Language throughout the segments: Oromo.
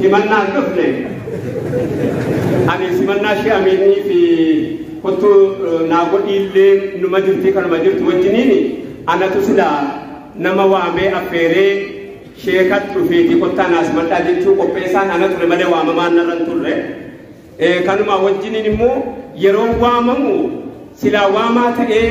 Simannaa hin dhufne. Ani simannaa ishee Amiinii fi kottu naa godhiillee numa jirti kanuma jirtu wajjiniin anatu silaa nama waamee affeeree sheekat dhufeeti kottaa naa simadhaa jechuu qopheessaan ana ture malee waamamaan narra hin turre. Eh, Kanuma wajjiniin immoo yeroo waamamu silaa waamaa ta'ee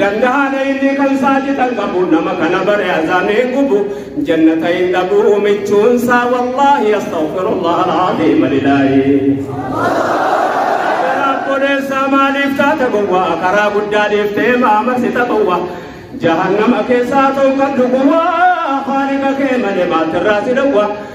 Dandaha da inni kan saati tan qabu nama kana bare azame gubu jannata hin dhabu michuun saa wallahi astaghfirullah alazim lillahi Kodeessa maaliif taata gowwa karaa guddaa deeftee maama sita gowwa jahannama keessaa toon kan dhuguwwa haaliqa kee malee maatirraa si dhowwa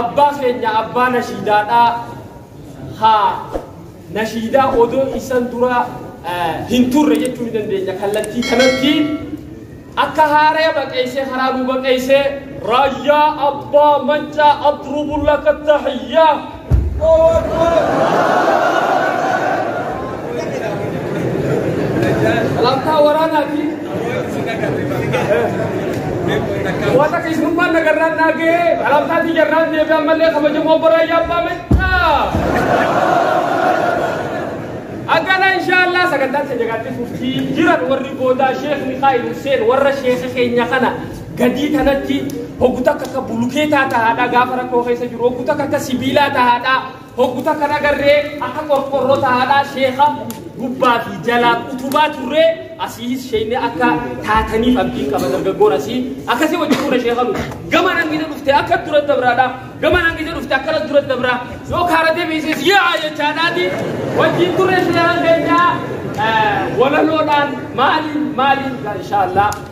Abbaa keenya abbaa nashiidaadhaa haa nashiidaa odoo isan dura hin turre jechuu ni dandeenya kallattii kanatti akka haaraya baqeessee karaa nuu baqeessee raayyaa abbaa maccaa adrubu laka tahiyyaa Allahu Akbar. Salaamtaa waraanaati. Wata keessummaan nagarraan naagee alaabsaatii jarraan deebi'ee ammallee kabajamoo bara yaabbaa mechaa. Akkana inshaallah sagantaan keenya gaatti fuftii jiran warri boodaa sheekh Mikaa'il Hussein warra sheekha keenya kana gadii tanatti hogguta akka akka bulukeetaa tahaadhaa gaafa rakkoo keessa jiru hogguta akka akka sibiilaa tahaadhaa. Hoggu takka dhagarree akka qorqorroo tahaadhaa sheeka gubbaa fi jalaa utubaa turree asiis sheekni akka taataniif abdiin qaba dargaggoon asii akkasii wajjin turre sheeka nu gama nangina dhufte akka dura dabraadhaa gama nangina dhufte akkana dura dabraa yoo kaara deebiisees yaa jechaadhaati wajjin turre sheeka keenyaa walaloodhaan maaliin maaliin inshaallaa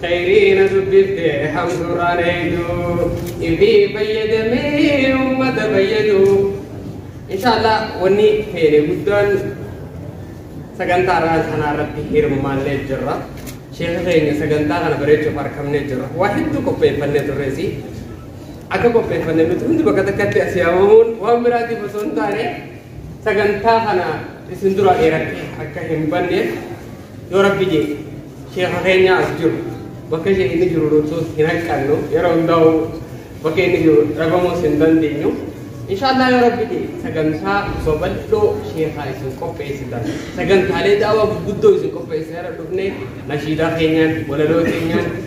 Khayrii na dubbifte hamtuurraan eenyu ifii fayyadamee ummata fayyadu. Inshaallah wanni feene guddaan sagantaa irraa kanaa irratti hirmaannee jirra. Sheekha keenya sagantaa kana bareechuuf harkamnee jirra. Waa hedduu qopheeffannee turreesi. Akka qopheeffanne nuti hundi bakka takkatti asii hamamuun waan biraatiif osoo hin taane sagantaa kana isin dura dheeratte akka hin banneef Yoo rabbi jeete sheekha keenya as jiru bakka ishee inni jiru dhunsuus hin hanqannu yeroo hundaa'u bakka inni jiru dhabamuus hin dandeenyu. Inshaallah yoo rabbi jeete sagantaa babal'oo sheekhaa isin qopheessitan sagantaalee daawaa gurguddoo isin qopheessee irra dhufnee nashiidaa keenyaan walaloo keenyaan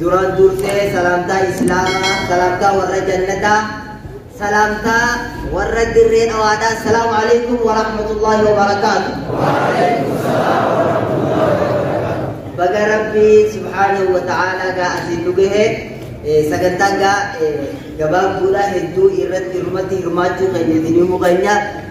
Duraan dursee salaamtaa islaamaa, salaamtaa warra jannataa, salaamtaa warra dirree dhawaadhaa. Salaamu alaikum wa rahmatullahi wa barakaatu. Baga Rabbi subhaanahu wa ta'aalaa gaa asiin nu gahe sagantaa gaa gabaabduudha hedduu irratti irratti hirmaachuu keenya isin himuu keenya.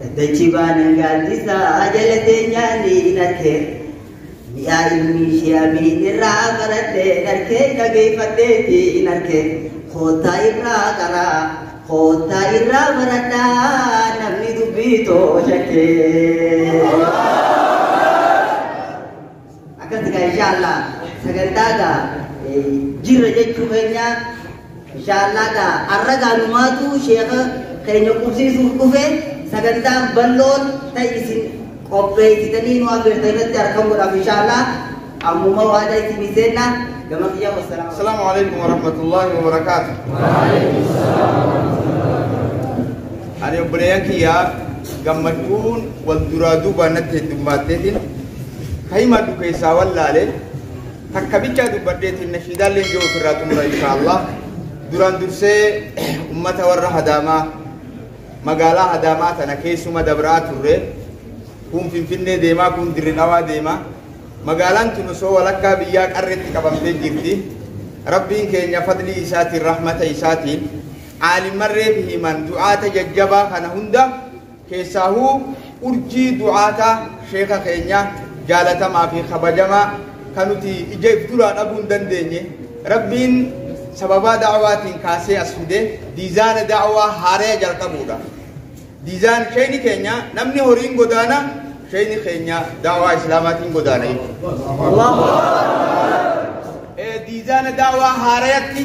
Daddachi baanan gaaddisaa jala teenyaanii in arkee mi'aa ilmi ishee abiin irraa barattee in arkee dhageeffatteetti in arkee koottaa irraa qaraa koottaa irraa baradhaa namni dubbii too shakkee. Akkasi gaa inshallah sagantaa gaa jirra jechuu keenya inshallah gaa arra gaa numaatu sheekha keenya qubsiisuuf dhufe sagantaan balloon ta'e isin qopheessitanii nu affeertan irratti argamu godhaaf inshallah ammuma waada isin seenna gama kiyya wassalaam. Assalaamu alaikum warahmatullahi wabarakaatu. Ani obboleeyyan kiyyaa gammachuun wal duraa duubaan natti heddummaatteetiin ka himadhu keessaa wallaale takka bichaa dubbadheetiin nashiidaan leenjoo ofirraa xumura inshaallah duraan dursee ummata warra hadaamaa magaalaa hadaamaa tana keessuma dabraa turre kun finfinnee deemaa kun dirri dhawaa deemaa magaalaan tun osoo walakkaa biyyaa qarreetti qabamtee jirti rabbiin keenya fadlii isaatiin rahmata isaatiin aalimmarree fi himan du'aata jajjabaa kana hunda Keessaahuu urjii du'aata sheeka keenya jaalatamaa fi kabajamaa kan nuti ija if duraa dhabuu hin dandeenye Rabbiin sababaa da'awaatiin kaasee as fide diizaana da'awaa haaraya jalqabuudha. Diizaan sheeyni keenya namni horiin godaana sheeyni keenya da'awaa islaamaatiin godaana jechuudha. Diizaana da'awaa haarayatti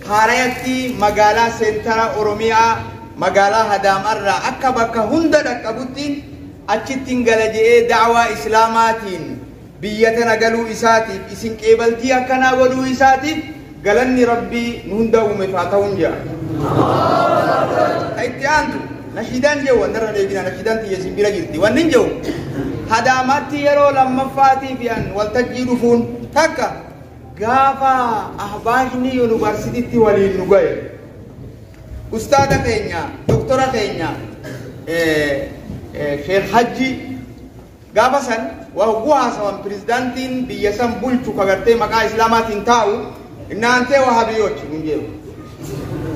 haarayatti magaalaa seentara Oromiyaa magaalaa Adaamaarraa akka bakka hunda dhaqqabutti achittin gala je'ee da'awaa Islaamaatiin biyya tana galuu isaatiif isin qeebaltii akkanaa godhuu isaatiif galanni Rabbii nu hunda uumeef haa ta'uun je'a. Ka itti aantu nashiidaan je'u wandarra deebina nashiidaan tiyya isin bira jirti wanni hin je'u Adaamaatti yeroo lammaffaatiif yan waltajjii dhufuun takka gaafa ahbaashni yuunivarsiitiitti waliin nu ga'e. Ustaaza keenya doktora keenya Sheekh Hajji gaafa san waa hogguu haasawan pirezidaantiin biyya san bulchu ka gartee maqaa islaamaatiin taa'u naantee wahaabiyyooti nun jedhu.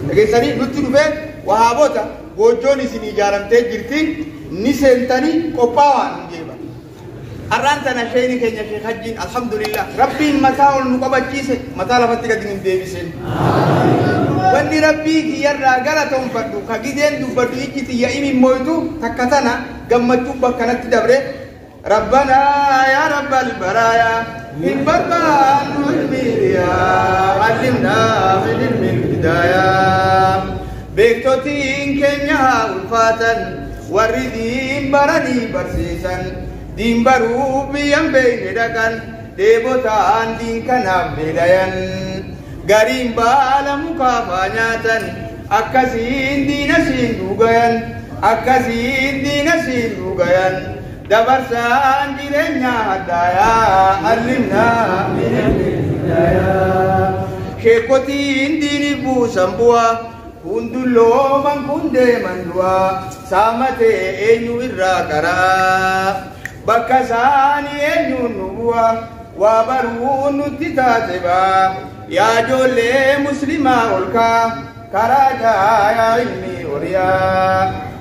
Dhageessanii nutti dhufee wahaabota goojjoon isin ijaaramtee jirti ni seentanii qophaawaa nun jedhu. Har'aan tana sheeyni keenya sheekh hajjiin alhamdulillah rabbiin mataa ol nu qabachiise mataa lafatti gadi nu deebiseen. Wanni rabbii kiyyarraa galatoonfadhu ka gideen dubbadhu ijji tiyya imimmoytu takka tana gammachuu bakkanatti dabre rabbana yaa rabbal baraaya hin barbaannu ilmiiriya allimna min ilmil hidaaya beektotiin keenya haa ulfaatan Warri diin baranii barsiisan diin baruuf biyyan beeyne dhaqan dheebotaan diin kanaaf dheedayan gariin baala mukaa faa nyaatan akkasiin diina siin dhuugayan akkasiin diina siin dhuugayan dabarsaan jireenyaa hadhaayaa allimnaa minal hidayaa sheekotiin diiniif buusan bu'aa Kun dullooman kun deeman du'aa saamatee eenyu irraa qara'a bakka isaanii eenyuun nu bu'a waa baruun nutti taate ba'a yaa ijoollee muslimaa olkaa karaa jaayaa ilmii horiyaa.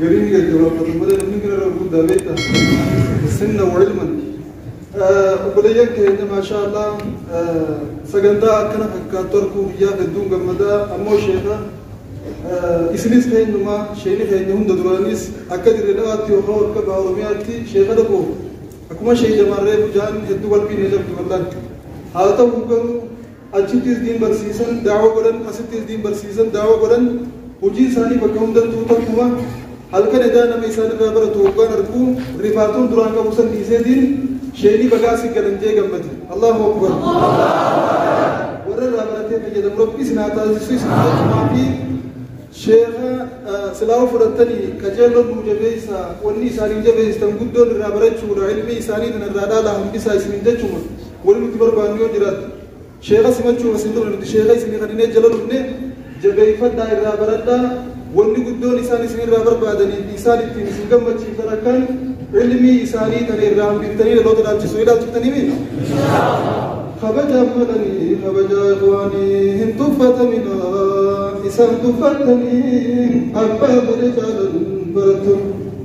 Garii ni gaggabaabata malee namni gara irra guddaa beekta. Sinna wa ilman. Obboleeyyan keenya maashaa Allah sagantaa akkana fakkaattu arguu biyyaa hedduun gammadaa ammoo sheeka isinis keenyumaa sheekni keenya hunda duraanis akka dirree dhawaatti yookaan akka baha Oromiyaatti sheeka dhaqu akkuma sheek Jamaarree Bujaan hedduu qalbii na cabdu wallaan. Haa ta'u garuu achitti isdiin barsiisan daawa godhan asitti isdiin barsiisan daawa godhan hujii isaanii bakka hundattuu takkuma halkan edaa nama isaan irraa baratu hoggaan argu rifaatuun duraan qabu san dhiiseetiin sheeynii bagaa si galan jee gammade allahu akbar warra irraa baratee fayyadamu rabbi isin haa taasisu isin jechumaa fi sheeka silaawa fudhattanii qajeeloo nuu jabeessa wanni isaaniin jabeessitan guddoon irraa barachuudha ilmi isaanii tan irraa dhaala hambisaa isinin jechuma Wani nuti barbaannu yoo jiraatte sheeka simachuuf as hin dhufne nuti sheeka isinii kadhinee jala dhufne jabeeyfadhaa irraa baradhaa wanni guddoon isaan isin irraa barbaadanii fi isaan ittiin isin gammachiiftan akkan ilmii isaanii tana irraa hambiftanii dhaloota dhaalchisu ni dhaalchiftanii kabajaan malanii kabajaa ikhwaanii hin tuffatamina isaan tuffattanii abbaa fedhe caalan barattu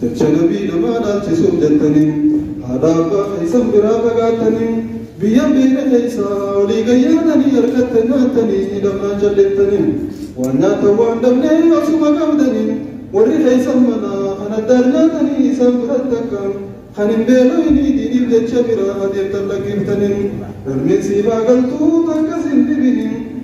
Jecha nabii namaa dhaalchisuuf jettanii haadhaa abbaa keessan biraa fagaattanii biyya hin beekne keessa olii gad yaatanii argatte nyaattanii hidhamnaan jalleettanii waan nyaattan waan dhabnee osuma qabdanii warri keessan manaa kan addaar nyaatanii isaan biratti akka kan hin beelooyinii diiniif jecha biraa adeemtan lakkiftanii galmeen siif haa galtuu takkas hin dhibinii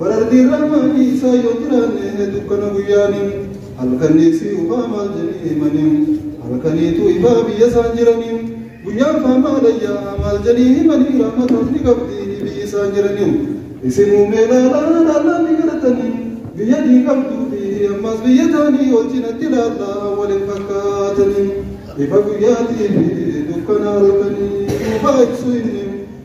Bararri irraamaa dhiisaa yoo jiraanne dukkana guyyaani halkanii fi ubaa maal jedhee himanii halkaniitu ifaa biyya isaan jiranii guyyaan faamaa dayyaa maal jedhee himanii raamataaf ni qabdi biyyi isaan jiranii isin uumee laalaa laalaa ni garatanii biyya ni qabduu fi ammas biyya taanii ol cinatti laalaa waliin fakkaatanii ifa guyyaatii fi dukkana halkanii ubaa ibsuu inni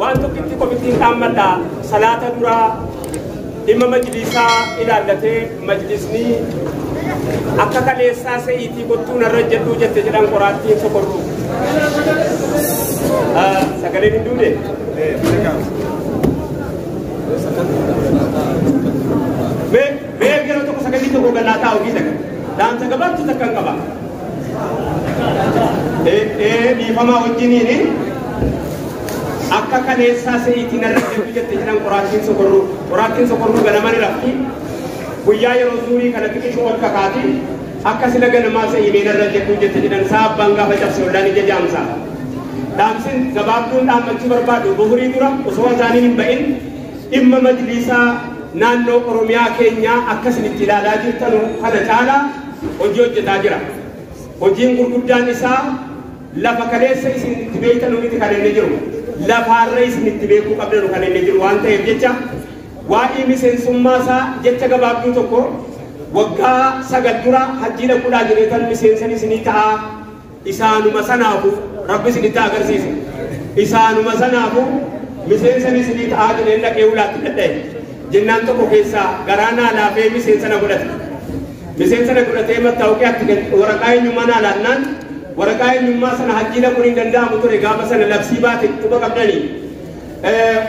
waan tokkitti komittiin dhaammadha salaata duraa dhimma majliisaa ilaallatee majlisnii akka kaleessaa se'iitii kottuu narra jedhuu jette jedhan qoraattiin sokorruu sagaleen hin duune mee mee gara tokko sagalii tokko gannaa taa'u giisa dhaamsa gabaabtu takkan qaba dhiifamaa wajjiniin akka kaleessaa seeyitiin irra deemu jette jedhan qoraattiin sokorruu qoraattiin sokorruu ganama ni rafti guyyaa yeroo suurii kana xiqishuu ol kakaati akka sila ganamaa seeyimeen irra jedhu jette jedhan saa abbaan gaafa cabse ollaan ija jaamsa dhaamsin gabaabduun dhaammachuu barbaadu buhurii dura osoo azaaniin hin ba'in dhimma majliisaa naannoo oromiyaa keenyaa akkasinitti ilaalaa jirtanu kana caalaa hojii hojjetaa jira. Hojiin gurguddaan isaa lafa kaleessa isin itti beektanu miti kan inni jiru. Lafaarra isin itti beekuu qabdanu kan inni jiru waan ta'eef jecha waa'ee miseensummaa isaa jecha gabaabduu tokko waggaa sagal dura hajjii dhaquudhaa jireetan miseensan isinii ta'aa Isaanuma sanaafu Rabbi isinitti haa agarsiisu. Isaanuma sanaafu miseensan isinii ta'aa jedheen dhaqee ulaatti dhadha'e. Jennaan tokko keessaa garaa naa laafee miseensa na godhate. Miseensa na godhatee mattaawqee atti gad waraqaa eenyummaa naa laannaan waraqaa eenyummaa sana hajjii dhaquun hin danda'amu ture gaafa sana labsii baate quba qabdanii.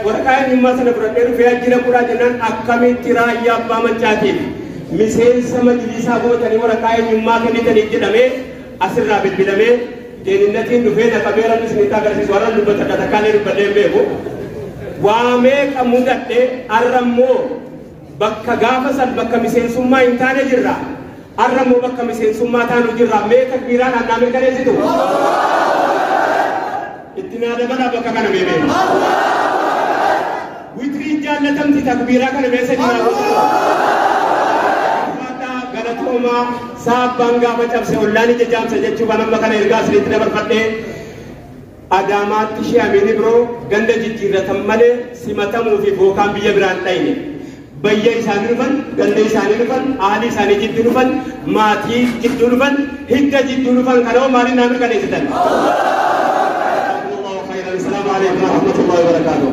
Waraqaa eenyummaa sana fudhadhee dhufee hajjii dhaquudhaa jennaan akkamitti raayyaa abbaa mancaatiin miseensa majlisaa gootanii waraqaa eenyummaa kennitaniif jedhamee asirraa bilbilamee deeninnatiin dhufee na qabee rabbi isinitti agarsiisu har'an dubbata akka takkaa illee dubbadhee hin beeku waa meeqa mudadhe har'a immoo bakka gaafa san bakka miseensummaa hin taane jirra har'a immoo bakka miseensummaa taanu jirra mee takbiiraan annaa mirkaneessitu Itti naa dabalaa bakka kana mee mee. Witrii jaallatamti takbiiraa kana mee sadi naa godhaa. Faataa galatoomaa saabbaan gaafa cabse ollaan ija jaamsa jechuu kan amma kana ergaa isinitti dabarfadhee Adaamaatti shee Amiin Ibroo ganda jijjiirratan malee simatamuu fi bookaan biyya biraan dhayne. bayya isaani dhufan, ganda isaani dhufan, ahli isaani jiddu dhufan, maati jiddu dhufan, hidda jiddu dhufan kana hoo maalin naa mirkaneesitan? Jazakumullahu khairan. Assalamu alaikum warahmatullahi wabarakatuh.